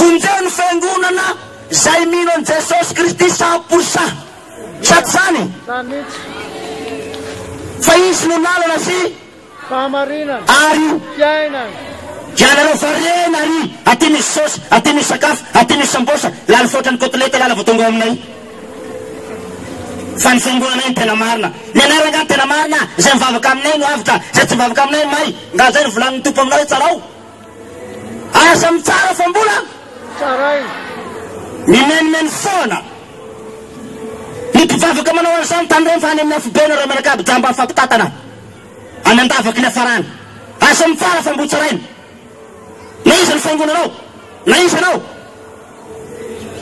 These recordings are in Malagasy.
Vonjeo ny fiangonana izay mino an'i Jesosy Kristy cent pour cent. Sa tsy izany? Fa Izy no lalana sy Fahamarinana. Ary Fiainana. Ianareo variana ary aty misy saosy, aty misy sakafo, aty misy sambosa, lany foatra ny kotilety lala vao tonga ao aminay. Fa ny fiangonanay no tena marina. Ny anay rangah no tena marina, izay mivavaka aminay no avotra, izay tsy mivavaka aminay may. Nga izay no volanin'ny Tompo aminao hoe tsarao? Aza mitsara fa mbola mimenimeny foana ny mpivavaka manao an'izany tany Renfa any amin'ny afobeany raha mianakavy jamba amin'ny fampitatana any an-davaky ny hafarana. Aza mitsara fa mbo tsaraina. Na iza ny faingonanao, na iza anao,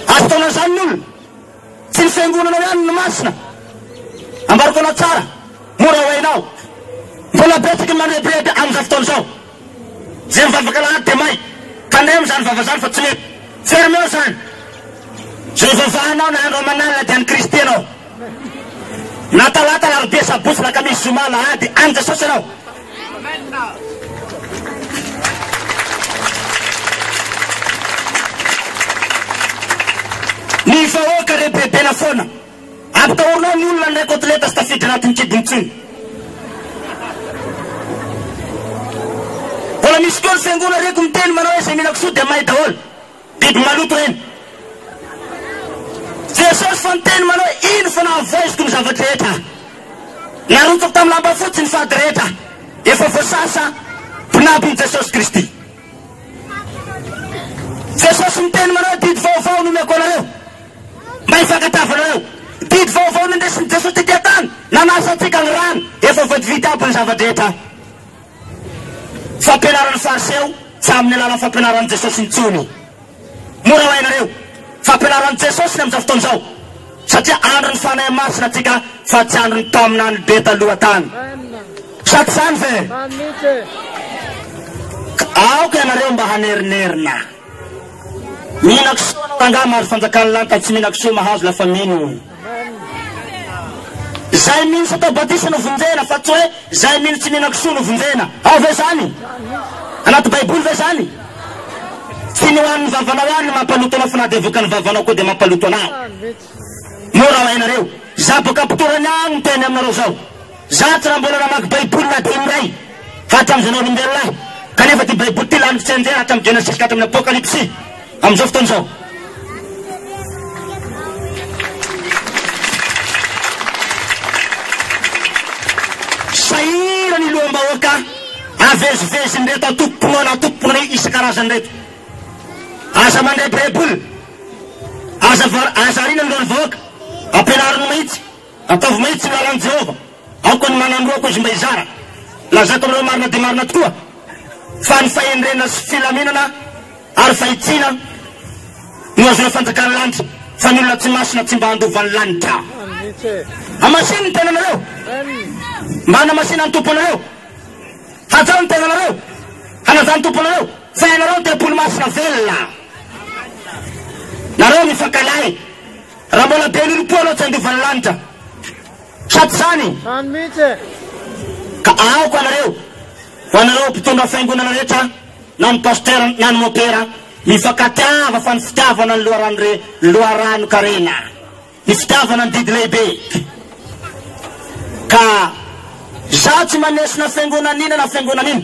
aza ataonao izany ny olona. Tsy ny fiangonanao ihany no masina. Ambariko anao tsara, mora ho hainao. Mbola betsaka ny manebiheby amin'izao fotoana izao. Izay mivavaka alahady dia may. Tandremo izany vava izany fa tsy mety. Fermeo izany. Izay ivavahanao na andro aman'alina dia an'i Kristy ianao. Na talata, alarobia, sabotsy, lakamisy, zoma, alahady, an'i Jesosy ianao. Ny vahoaka rebebena foana. Ampitahorina ny olona indray kotileta sy tafiditra anatin'ny kibon'ny tsena. Mbola misy koa ny fiangonana reko miteny manao hoe izay mila kisoa dia may daholo. Biby maloto ireny. Jesosy fa niteny manao hoe, Iny fa nahavoaiziko ny zavatra rehetra aho. Narotsako tamin'ny lamba fotsy ny fady rehetra. Efa voasasa mpinabon'i Jesosy Kristy. Jesosy niteny manao hoe, Didy vaovao no omeko anareo. Mba hifankatava anareo. Didy vaovao nendresin'i Jesosy tetỳ an-tany. Nanasa antsika ny rany. Efa voavidy aby ny zava-drehetra. Fampianaran'ny Fariseo tsy amin'ny alalan'ny fampianaran'i Jesosy intsony. Mora ho hainareo fampianaran'i Jesosy ny amin'izao fotoana izao, satria andron'ny Fanahy Masina antsika fa tsy andron'ny mpaminany be taloha tany. Sa tsy izany ve? Ka aoka ianareo mba hanerinerina. Mihina kisoa anao rangahy mahazo fanjakan'ny lanitra tsy mihina kisoa mahazo la famille no. Zay mino satao batisa no vonjena fa tsy hoe zay mino tsy mihina kisoa no vonjena. Ao ve zany? Anaty baiboly ve zany? Tsy ny ho an'ny vavanao any no mampaloto anao fa na dia vokan'ny vavanao koa dia mampaloto anao. Io raha hainareo. Za boka mpitoerana aho no teny aminareo zao. Za tsy raha mbola namaky baiboly na dia indray fa hatramin'ny zanaolombelona aho. Kanefa ty baiboly ty lany fitsenjera hatramin'ny genesisy ka hatramin'ny apokalypsy amin'izao fotoana izao. Sahirana ny loham-bahoaka avezivezin'ireto antokom-pinoana antokom-pinoana isan-karazany ireto. Aza mandrebireby olona. Aza aza ariana ny renivohoka. Ampianariny mihitsy. Ataovy mihitsy ny lalan'i Jehovah. Aoka ny manam-boako izy mba hizara. Lazako aminareo marina dia marina tokoa, fa ny fahendrena sy filaminana ary fahitsiana no ahazoana fanjakan'ny lanitra, fa ny olona tsy masina tsy mba handova ny lanitra. Hamasino ny tenanareo, mba hanamasina ny Tompo anareo. Hajao ny tenanareo, hanaja ny Tompo anareo. Fa ianareo deboly masina velona nareo mifankalahy raha mbola be ninompoa anao tsy handova ny lanitra sady izany ka aoka anareo ho anareo mpitondra fiangonana rehetra na ny pasteur na ny mopera mifankatiava fa ny fitiavana ny loharano re loharano karena Ny fitiavana ny didy lehibe ka izaho tsy maneso na fiangonana ina na fiangonana ina.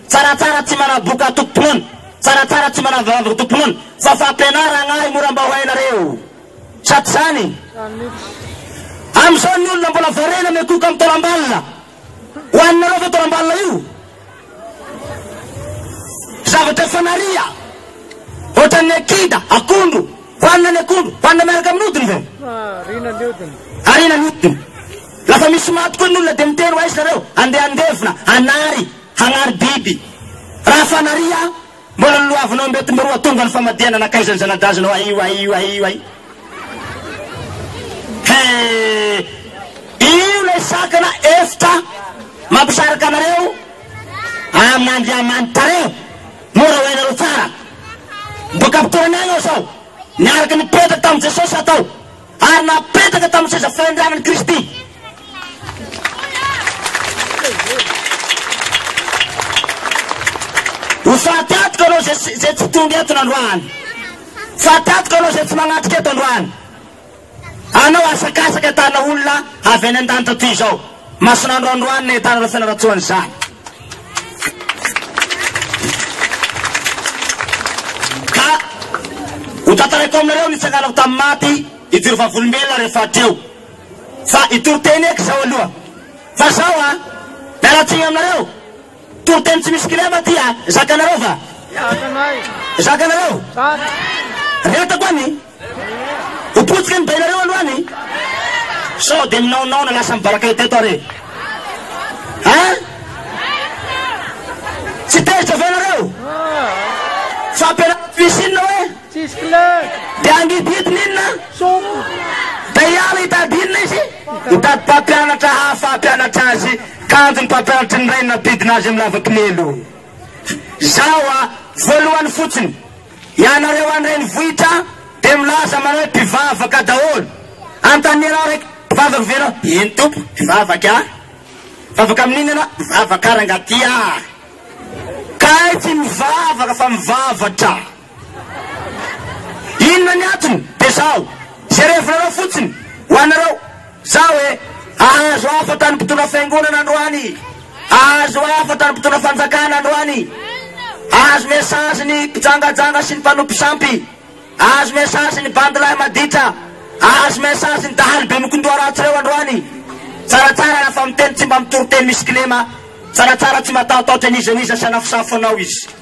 Tsaratsara tsy manaboka antokom-pinoana, tsaratsara tsy manavavaka antokom-pinoana fa fampianaragna ahy mora mba ho hainareo. Sa tsy izany? Amin'izao ny olona mbola variana miakohoka amin'ny taolam-balona. Ho aninareo ve taolam-balona io? Zavatra efa narià, ohatran'ny akida, akondro, hoanina ny akondro, hoanina miaraka amin'ny hodiny ve? Ariana ny hodiny. Ariana ny hodiny. Lafa misy maty koa ny olona dia miteny ho aiza nareo? Andeha handevina, hanary, hanary biby. Raha efa narià, Mbola noloavinao mety miroa tonga ny famadihana nankaiza ny zanadazinao aio aio aio ai he io lay sakana efitra mampisaraka anareo amin'Andriamanitareo mora ho hainareo tsara boka am-pitoerana agny ao sao niaraka nipetraka tamin'i Jesosy atao Ary napetaka tamin'ny seza fanondranan'i Kristy. Ho faty antoka anao izay tsy, izay tsy tonga eto nandroany. Faty antoka anao izay tsy magnatrika eto androany. Anao asakasaka tahana olona avy any an-danitra toy izao. Masina androandroany ny ahitana ireo fianarantsoany izany. Ka hotantaraiko aminareo ny tsanganako tamin'ny maty hidiry vavolombelona rehefa hatreo. Fa hitory teny eky izao aloha. Fa zao an, miala tsiny aminareo. Tory teny tsy misy kilema ty an, zakanareo va? Zakanareo? Retako an e! Ho potika ny bainareo aloha any sao dia minaonaona lasa mivalaka eto eto ary e. Hein? Tsy tezitra ve nareo? Fampianarana misy inona hoe? Tsisy clé. Dia angididiny inona? Sompo. Dia hiala hitady inona izy? Hitady mpampianatra hafa hampianatra azy. Kanjo ny mpampianatry ny rainy nanodidina azy amin'ny lava-kilelo. Zao a, voalohany fotsiny. Ianareo any renivohitra dia milaza manao hoe mpivavaka daholo. Antanierao aho raiky, mpivavaka ve ianao? Eny Tompo, mpivavaka aho. Mivavaka amin'inona ianao? Mivavaka aho rangah ty a! Kay tsy mivavaka fa mivavatra. Inona ny antony? Dia izao, izay revinareo fotsiny, ho anareo. Za hoe, ahazo hafatra ny mpitondra fiangonana androany, ahazo hafatra ny mpitondra fanjakana androany, ahazo message ny mpijangajanga sy ny mpanompo sampy, ahazo message ny bandy lahy maditra, ahazo message ny dahalo be mikondoha ratsy reo androany. Tsaratsara raha fa miteny tsy mba mitoriteny misy kilema, tsaratsara tsy matahotahotra n'iza n'iza sy anafosafo anao izy.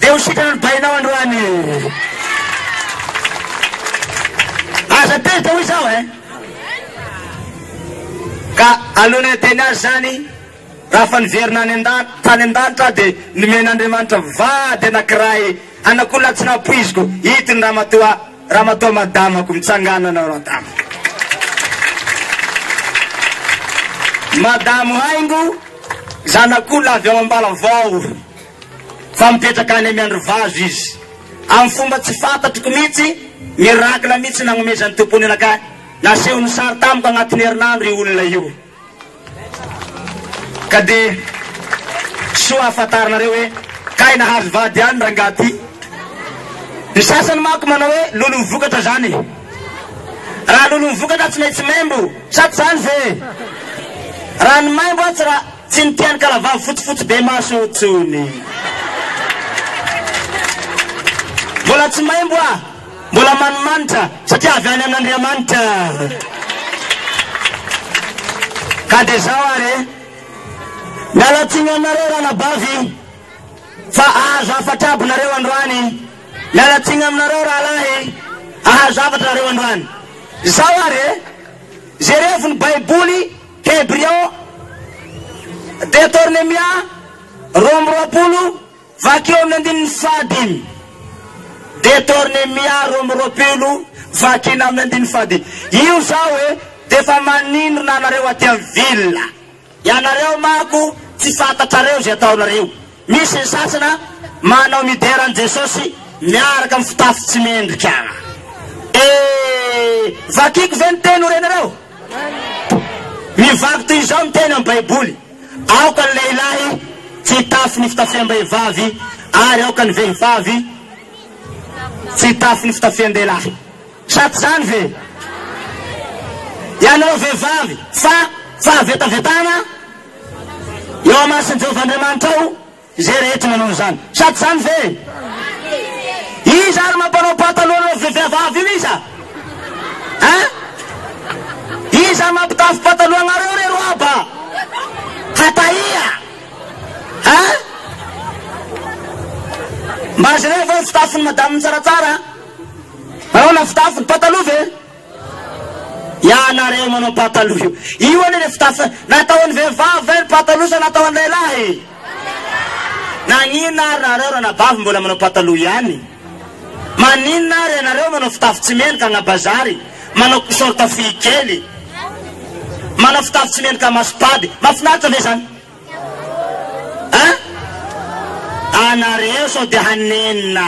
Dia ho sitrana ny bainao androany. Aza tezitra hoy izaho eh. Ka alohan'ny hiteny azy izany, raha efa niverina any an-danitra, tany an-danitra aho dia nomen'Andriamanitra vady anankiray anak'olona tsy nampoiziko, ito ny ramatoa, ramatoa madamako, mitsanganana madama. Madamo haingo, zanak'olona avy ao Ambalavao. Fa mipetraka any Miandrivazo izy. Amin'ny fomba tsy fantatriko mihitsy, miracle mihitsy nagnomezan'ny Tompo ny anakay. Nasehony sary tamiko agnatin'ny herinandro io olona io. Ka dia soa hahafantarinareo hoe kay nahazo vady ihany rangaha ty. Ny sasany manko manao hoe lolon'ny vokatra zany e. Raha lolon'ny vokatra tsy maintsy maimbo sa tsy zany ve e? Raha ny maimbo atsy raha. Tsy ny tian'ny kalavavy fotsifotsy be maso io tsony. Mbola tsy maimbo aho, mbola manimanitra satria avy any amin'Andriamanitra. Ka dia zao ary e. Miala tsiny aminareo ranabavy fa ahazo hafatra aby nareo androany. Miala tsiny aminareo rahalahy, ahazo hafatra nareo androany. Zao ary e, jerevy ny baiboly. Tebrion, Detornemia, roa amby roapolo, vakio amin'ny andininy fahadimy. Detornemia, roa amby roapolo, vakina amin'ny andininy fahadimy. Io zao e, dia efa maninona anareo aty amin'ny ville. Ianareo manko tsy fantatrareo izay ataonareo. Misy ny sasana manao midera an'i Jesosy miaraka amin'ny fitafy tsy mendrika. E! Vakiko ve ny teny ho renareo? Mivaky toy izao ny teny amin'ny Baiboly, Aoka ny lehilahy tsy hitafy ny fitafiam-behivavy, ary aoka ny vehivavy tsy hitafy ny fitafian-dehilahy. Sa tsy izany ve? Ianareo vehivavy, fa fahavetavetana? Eo amason Jehovah Andriamanitrao izay rehetra manao an'izany. Sa tsy izany ve? Iza ary mampanao pataloha love be viavavy io iza? Hein? Iza ary mampitafy pataloha anareo re roaba? Hatahia! Hein? Mba jereo ve ny fitafin'ny madame tsaratsara? Manao na fitafy ny pataloha ve? Ianareo manao pataloha io. Io anie le fitafy natao an'ny vehivavy ve ny pataloha sa natao an'ny lehilahy? Naninona ary nareo ranabavy mbola manao pataloha ihany? Maninona ary ianareo manao fitafy tsy mendrika agnabazary, manao short fohy kely, manao fitafy tsy mendrika maso-pady? Mahafinaritra ve zany? Hein? Anareo sao dia hanenina.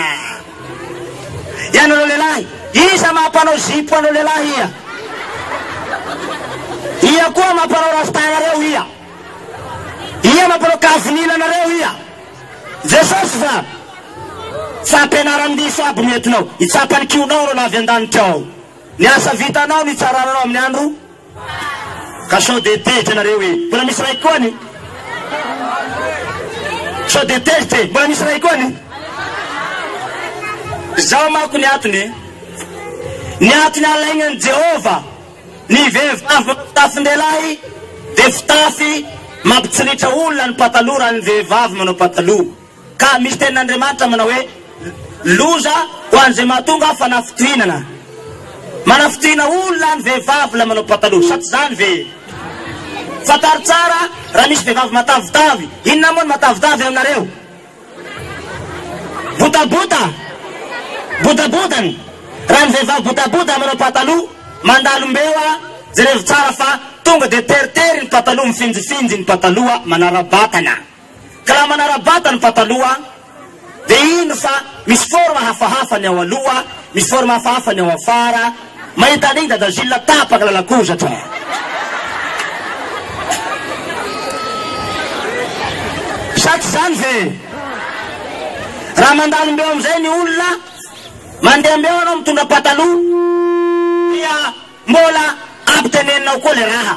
Ianareo lehilahy, iza mampanao zipo anao lehilahy ia? Ia koa mampanao rasta anareo ia? Ia mampanao kavinina anareo ia? Jesosy fa tsy ampianaran-diso aby ny entinao. Hitsapa ny kihonao ireo lavy an-danitra ao. Ny asa vitanao, ny hitsarananao amin'ny andro Ka sao dia tezitra nareo e! Mbola misy ray koa ny? Sao dia tezitra e! Mbola misy ray koa ny? Zao manko ny atony e! Ny atony alainan'i Jehovah ny vehivavy manao fitafin-dehilahy dia fitafy mampitsiritra olona ny pataloha raha ny vehivavy manao pataloha. Ka misy tenin'Andriamanitra manao hoe, Loza ho an'izay mahatonga fanafitohinana. Manafitohina olona ny vehivavy ilay manao pataloha, sa tsy izany ve? Fantaro tsara raha misy vehivavy matavitavy. Inona moa ny matavitavy aminareo? Botabota? Bodaboda ny. Raha ny vehivavy bodaboda manao pataloha, mandalo mbeo a! Jerevo tsara fa tonga dia teritery ny pataloha, mifinjifinjy ny pataloha, manara-batana. Ka raha manara-bata ny pataloha dia ino fa misy forme hafahafa ny ao aloha, misy forme hafahafa ny ao afara, mahita an'iny Dada Gilles tapaka lalakozatra eh! Sa tsy izany ve? Raha mandalo mbeo amin'izay ny olona, mandeha mbeo ianao mitondra pataloha dia mbola ampiteneninao koa ilay raha.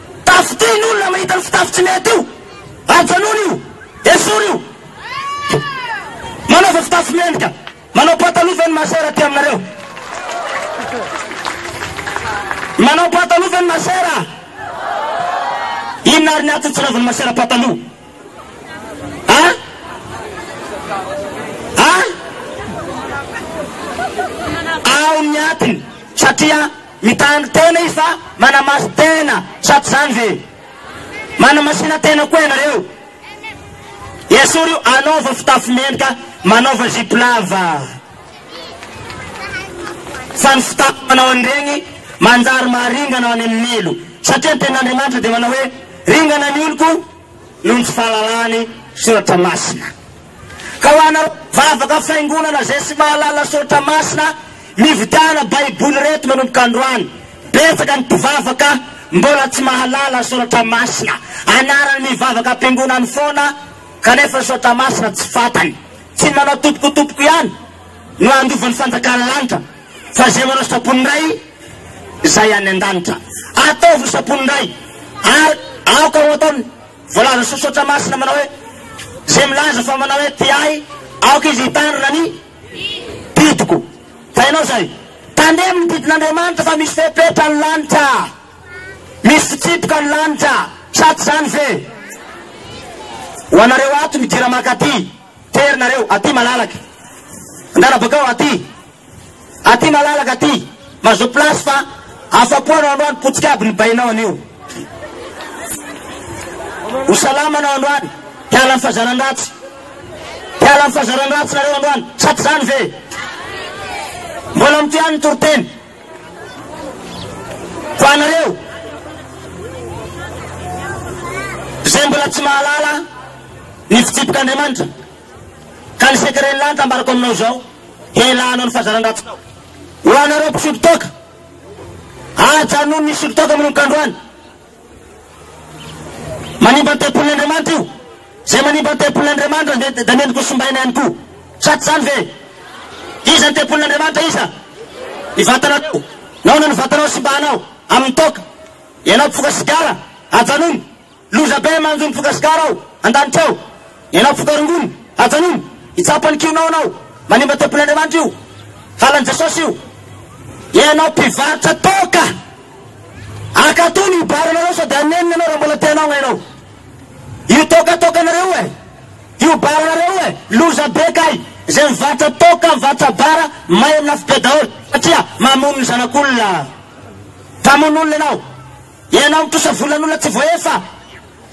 Tafotry ny olona mahita ny fitafy tsy mety io. Ajanony io. Esory io. Manaova fitafy mendrika. Manao pataloha ve ny masera aty aminareo? Manao pataloha ve ny masera? Inona ary ny antony tsy anaovan'ny masera pataloha? Ha? Ha? Ao ny antony. Satria. Mitandro tena izy fa manamaso tena sa tsy zany ve? Manamasina tena koa ianareo? Esory io anaova fitafy mendrika manaova zipo lava fa ny fitafy manao an'iregny manjary maha ringana ho any amin'ny ilo satria ny tenin'Andriamanitra dia manao hoe ringana ny oloko noho ny tsy fahalalany soratra masina. Ka ho anareo mpivavaka fiangonana izay tsy mahalala soratra masina mividiana baiboly ireto manomboka androany, betsaka ny mpivavaka mbola tsy mahalala soratra masina, anarany mivavaka am-piangonany foana kanefa ny soratra masina tsy fantany, tsy ny manao topokotopoko ihany no handova ny fanjakan'ny lanitra Fa izay manao sitrapon'ny Ray izay any an-danitra, ataovy ny sitrapon'ny Ray. Ary aoka ho ataony, voalazan'ny sosotra masina manao hoe, Izay milaza fa manao hoe tia Ahy, aoka izy hitandrina ny didiko. Fa ianao izay, tandremo ny didin'Andriamanitra fa misy fepetra ny lanitra, misy fitsipika ny lanitra, sa tsy izany ve? Ho anareo ato midira mankaty. Tery nareo aty malalaka Angaha bakao aty Aty malalaka aty Mazoto place fa Afapo anao androany Potika aby ny bainao anio Ho salama anao androany Hiala ny fazaran-dratsy Hiala ny fazaran-dratsy nareo androany Sa tsy zany ve Mbola mitohy any ny toriteny Ho anareo izay mbola tsy mahalala ny fitsipik'Andriamanitra ka ny secret-ny lany tambarako aminao izao hialànao ny fahazaran-dratsinao. Ho anareo mpisolo toaka, ajanony ny solo toaka manomboka androany. Manimba ny tempolin'Andriamanitra io. Izay manimba ny tempolin'Andriamanitra dia dia mendrika ho simbaina ihany koa. Sa tsy izany ve? Iza ny tempolin'Andriamanitra? Iza? Ny vatanareo. Nahoana ny vatanao simbahanao? Amin'ny toaka. Ianao mpifoka sigara, ajanony. Loza be manjo mifoka sigara ao an-danitra ao. Ianao mpitondra rongony, ajanony! Hitsapa ny kianao ianao! Manimba tempolin'Andriamanitra io! Halan'i Jesosy io! Ianao mpivarotra toaka! Akato ny bar anareo sady hanenina ianao raha mbola te hanao ianao! Io toaka toakanareo e! Io bar anareo e! Loza be kay! Izay mivarotra toaka, mivarotra bar, may amin'ny afo be daholo! Satria mamono ny zanak'olona! Mpamono olona ianao! Ianao mitrosa volan'olona tsy voaefa.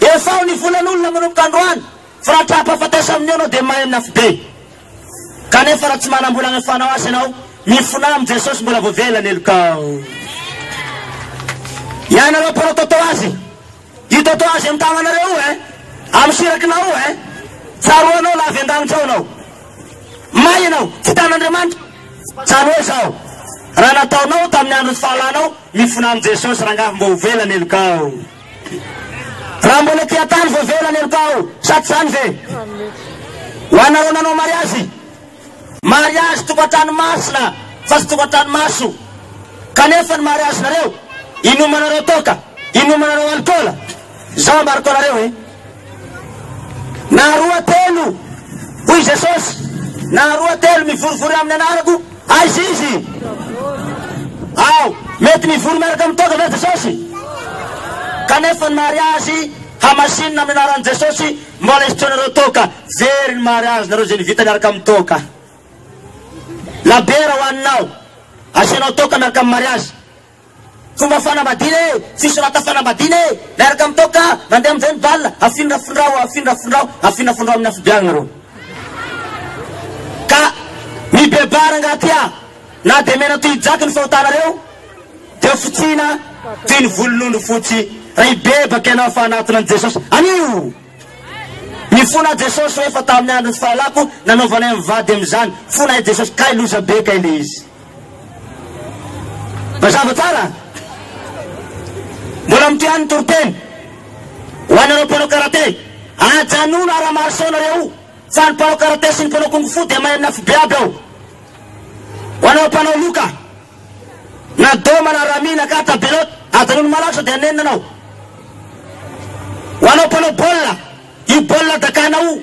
Efa ao ny volan'olona manomboka androany fa raha tra-pahafatesa amin'io ianao dia mahay mnafy be. Kanefa raha tsy manam-bola anefanao azy ianao, mifona amin'i Jesosy mbola voavela ny helokao. Ianareo mpanao tôtôazy, io tôtôazy amin'ny tagnanareo io eh, amin'ny sirakinao io eh, tsaroanao la avy an-danitra ao ianao. May ianao, tsy hitan'Andriamanitra. Tsaro hoe izao, raha nataonao tamin'ny andron'ny fahalanao, Mifona amin'i Jesosy rangahy mbô ho vela ny helokao. Raha mbola ety an-tany vao vela ny helokao, sa tsy izany ve? Ho anareo nanao mariazy, mariazy tokantrano masina fa tsy tokantrano maso, kanefa ny mariazinareo inomanareo toaka, inomanareo alikaola, Izao ambarako anareo e, na roa telo, hoy Jesosy, na roa telo mivorivory amin'ny anarako, aiza izy? Ao, mety mivory miaraka amin'ny toaka ve Jesosy? Kanefa ny mariazy hamasinina amin'ny anaran'i Jesosy, mbola hisitraonareo toaka, very ny mariazinareo izay nivita miaraka amin'ny toaka. Labiera ho haninao, asianao toaka miaraka amin'ny mariazy. Fomba fanambadiana e! Fisorata fanambadiana e! Miaraka amin'ny toaka mandeha amin'izay ny bal! Afindrafindrao, afindrafindrao, afindrafindrao amin'ny afobe agny nareo. Ka mibebaha rangaha ty ah! Na dia mena toy jaky ny fahotanareo dia ho fotsihina toy ny volon'ondry fotsy raha hibebaka ianao fa hanatona an'i Jesosy. Anio! Mifona aho Jesosy o efa tamin'ny andron'ny fahalako nanaovanay mivady amin'izany. Fona ahy Jesosy kay loza be kay le izy. Mazava tsara? Mbola mitohy any ny toriteny ho anareo mpanao karate. Ajanony ara marso nareo fa ny mpanao karate sy ny mpanao kung fu dia mahay amin'ny afobe aby ao. Ho anareo mpanao loka na doma na rami na kata belot ajanony malaky sao dia nenina anao. Ho anao mpanao baolina io baolina dakana io.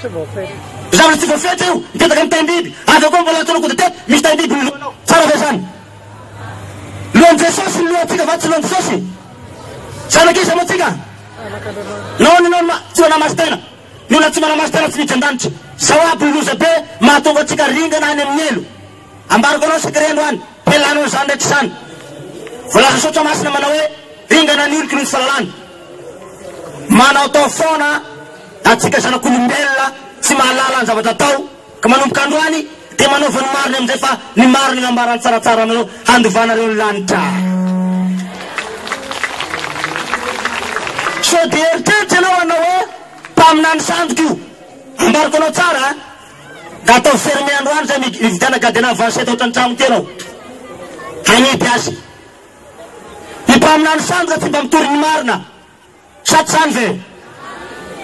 Zavatra tsy voafetra io, mipetaka amin'ny taim-biby. Avy eo koa mbola antsoinao goude tête, misy taim-biby ny lohanao. Tsara ve izany? Lohan'i Jesosy ny lohantsika va tsy lohan'i Jesosy? Zanak'iza moa tsika? Nahoana ianao no tsy manahy maso-tena? Ny olona tsy manahy maso-tena tsy miditra an-danitra. Izao aby ny loza be mahatonga antsika ringana any amin'ny helo. Ambarako anao Secret androany dia lany ho an'izany rehetra izany. Voalaza Soratra Masina manao hoe, Ringana ny oloko noho ny fahalalana. Manaotao foana antsika zanak'olombelona tsy mahalala ny zavatra atao ka manomboka androany dia manaova ny marina amin'izay fa ny marina no ambarany tsaratsara anareo handovanareo ny lanitra. Sao dia eritreritra ianao hanao hoe, Mpaminany sandoka io. Ambarako anao tsara a! Ka atao fermer androany zay mi mividiana gardien avancé tao trantrano kely ao. Hanidy azy. Ny mpaminany sandoka tsy mba mitory ny marina. Sa tsy zany ve?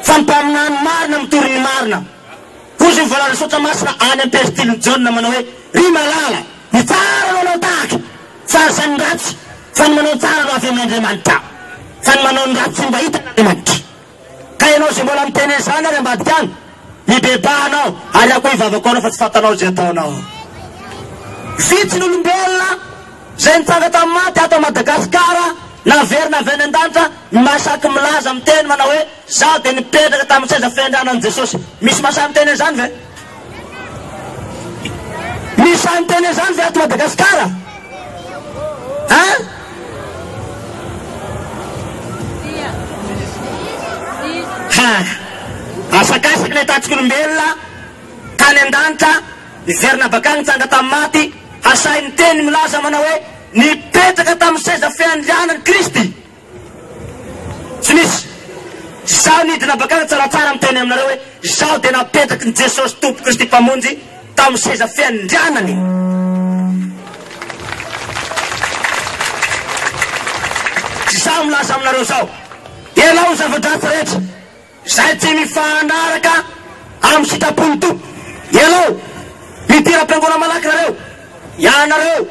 Fa ny mpaminany marina mitory ny marina. Hozy ny voalaza Soratra Masina any am Pestilin'i Jaona manao hoe, Ry malala, ny tsara no anao tahaka, tsy aza ny ratsy, fa ny manao ny tsara no avy amin' Andriamanitra, fa ny manao ny ratsy tsy mba hitan' Andriamanitra. Ka ianao izay mbola miteny an'izany ary ambadika any, mibebaha anao ary akoy vavako anao fa tsy fantanao izay ataonao. Vitsy ny olombelona izay nitsanga tamin'ny maty ato Madagasikara naverina avy any an-danitra no mahasaky milaza miteny manao hoe zaho dia nipetraka tamin'ny seza fiandrianan'i Jesosy. Misy mahasahy miteny an'izany ve? Misy sahy miteny an'izany ve ato Madagasikara? Hein? Ha! Asakasaky ilay tatsik'olombelona tany an-danitra, niverina avy akany nitsanga tamin'ny maty, ha sahy niteny milaza manao hoe, Nipetraka tamin'ny seza fiandrianan'i Kristy. Tsy misy. Izaho nidina bakany tsaratsara miteny aminareo hoe izaho dia napetraky ny Jesosy Tompo Kristy Mpamonjy tamin'ny seza fiandrianany. Izaho milaza aminareo izao, ianao ny zava-dratsy rehetra. Izay tsy mifanaraka amin'ny sitrapon'ny Tompo. Ianao, midira am-piangonana malaky nareo, ianareo,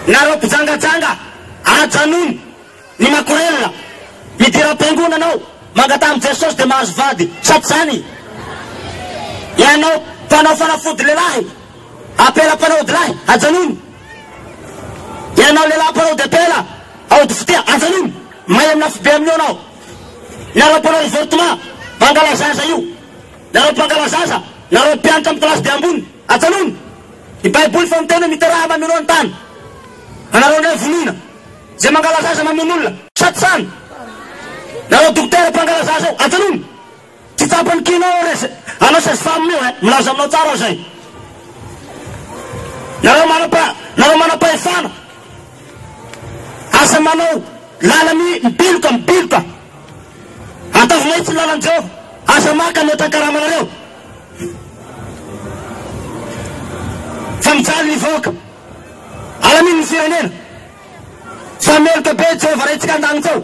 nareo mpijangajanga, ajanony ny makorelina, midira am-piangonana anao, mangataha amin'i Jesosy dia mahazo vady, sa tsy izany? Ianao mpanao fanafody lehilahy, apela mpanao odilahy, ajanony. Ianao lehilahy mpanao debela, aody fitia, ajanony, may amin'ny afobe amin'io ianao. Nareo mpanao avortement, mpangalazaza io. Nareo mpangalazaza, nareo mpianatra amin'ny classe be ambony, ajanony. Ny baiboly fa miteny hoe miteraha mamiro ny tany. Anareo indray vonoina. Izay mangalazaza mamono olona. Sady zany. Nareo dokotera mpangalazaza io, ajanony. Tsy tsapany kina aho res anao sez femme io eh milaza aminao tsara aho zay nareo manapa nareo manapahefana aza manao lalany mibiloka mibiloka ataovy mahitsy ny lalan'i Jehovah aza maka mihoatra ny karamanareo fa mijaly ny vahoaka alamino ny firenena fa meloka be Jehovah raintsika an-danitra ao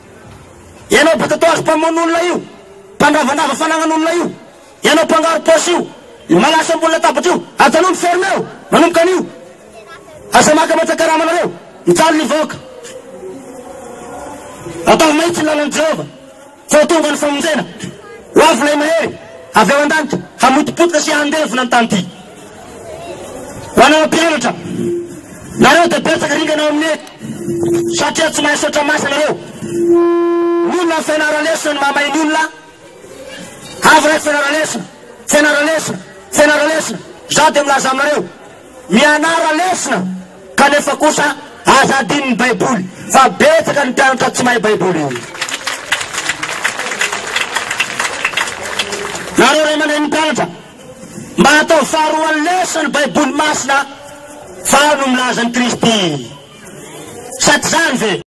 Ianao batatoaky mpamono olona io, mpandravandrava fanagnan'olona io, ianao mpangaro paosy io, io malaso ambony latabatra io, ajanony ferme eo, manomboka anio, aza maka mihatra karama anareo, mijaly ny vahoaka. Ataovy mahitsy ny lalan'i Jehovah, fa ho tonga ny famonjena. Ho avy Ilay Mahery avy ao an-danitra, hamotopotoka sy handevona ny tany ity. Ho anao mpianatra, nareo dia betsaka ringana ao amin'io eto satria tsy mahay saotra masa nareo. Ny olona ny fianara-lesona no mahamay ny olona. Avy raiky fianara-lesona, fianara-lesona, fianara-lesona, izaho dia milaza aminareo, mianara lesona kanefa kosa aza adinon'ny baiboly fa betsaka ny mpianatra tsy mahay baiboly. Nareo ray aman-dreny mpianatra, Mba atao faharoan'ny leso ny Baiboly masina fa ao no milaza an'i Kristy. Sa tsy izany ve?